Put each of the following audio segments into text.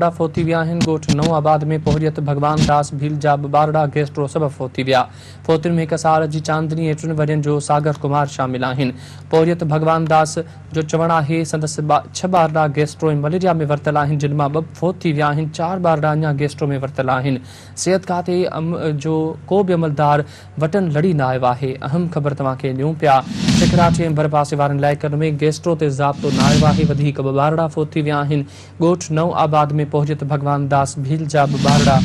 ٻارڙا فوت ٿي ويا آهن، ڳوٺ نئون آباد ۾ پورهيت ڀڳوان داس ڀيل جا ٻه ٻارڙا گيسٽرو سبب فوت ٿي ويا، فوتين ۾ هڪ سال جي چاندني ۽ ٽن ورهين جو ساگر ڪمار شامل آهن، پورهيت ڀڳوان داس جو چوڻ آهي سندس ڇهه ٻارڙا گيسٽرو ۽ مليريا ۾ ورتل آهن جن مان ٻه فوت ٿي ويا آهن، چار ٻارڙا اڃا گيسٽرو ۾ ورتل آهن، صحت کاتي جو ڪو به عملدار وٽن لڙي نه آيو آهي، اهم خبر توهان کي ڏيون پيا، سکراٽي ۽ ڀرپاسي وارن علائقن ۾ گيسٽرو تي ضابطو نه آيو آهي، وڌيڪ ٻه ٻارڙا فوت ٿي ويا آهن، ڳوٺ نئون آباد ۾ پهچي ته ڀڳوان داس ڀيل جا به ٻارڙا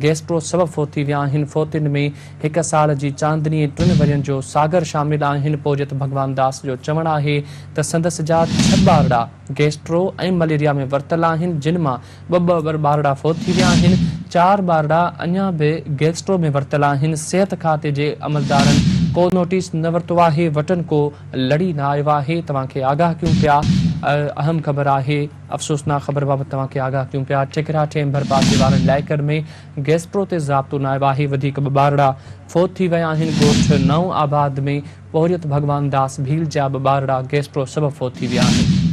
گيسٽرو سبب فوتي ويا آهن فوتين ۾ هڪ سال جي چاندني ۽ ٽن ورهين جو ساگر شامل آهن پوهچي ته ڀڳوان داس جو چوڻ آهي ته سندس جا ڇهه ٻارڙا گيسٽرو ۽ مليريا ۾ ورتل آهن جن مان ٻه ٻه ٻارڙا فوت ٿي ويا آهن چار ٻارڙا اڃا به گيسٽرو ۾ ورتل آهن صحت کاتي جي عملدارن ڪو نوٽيس نه ورتو آهي وٽن ڪو لڙي نه آيو آهي، توهان کي آگاهه ڪيون پيا. اهم خبر آهي، افسوسناڪ خبر بابت توهان کي آگاهه ڪيون پيا. ٺڪرا ٺيم ڀرپاسي وارن علائقن ۾ گيسپرو تي ضابطو نه آيو آهي، وڌيڪ ٻه ٻارڙا فوت ٿي ويا آهن. ڳوٺ نئون آباد ۾ پورهيت ڀڳوان داس ڀيل جا ٻه ٻارڙا گيسپرو سبب فوت ٿي ويا آهن.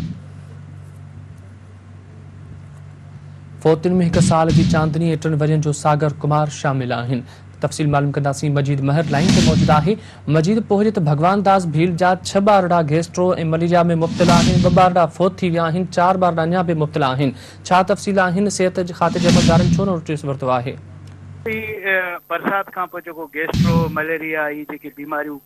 فوتين ۾ هڪ سال جي چاندني ۽ ٽن ورهين جو ساگر ڪمار شامل آهن. تفصيل معلوم ڪنداسين مجيد مهر لائين تي موجود آهي مجيد پهرين ته ڀڳوان داس ڀيل جا ڇهه ٻارڙا گيسٽرو ۽ مليريا ۾ مبتلا آهن ٻه ٻارڙا فوت ٿي ويا آهن چار ٻارڙا اڃا به مبتلا آهن ڇا تفصيل آهن صحت کاتي جي عملدارن ڇو نوٽيس ورتو آهي. هي برسات کان پوء جيڪو گيسٽرو مليريا هي جيڪي بيماريون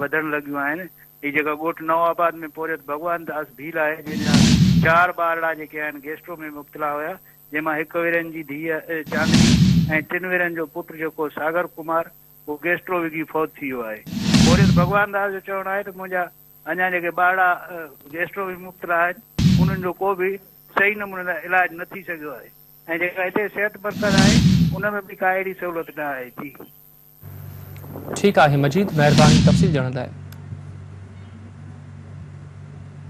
وڌڻ لڳيون آهن هي جيڪا ڳوٺ نئون آباد ۾ پورهيت ڀڳوان داس ڀيل آهي جنهن جا چار ٻارڙا جيڪي آهن گيسٽرو ۾ مبتلا هيا جنهن مان هڪ ورهين جي ڌيء چاندني ۽ ٽن ورهين جو پٽ جيڪو ساگر ڪمار هو گيسٽرو وگهي فوت ٿي ويو آهي. پورهيت ڀڳوان داس جو چوڻ آهي ته منهنجا اڃا جيڪي ٻارڙا گيسٽرو وگهي مبتلا آهن انهن جو ڪو به صحيح نموني سان علاج نه ٿي سگهيو آهي ۽ جيڪا هتي صحت مرڪز آهي ان ۾ به ڪا اهڙي سهولت نه آهي ٿي. ٺيڪ آهي مجيد مهرباني تفصيل ڏيڻ لاء.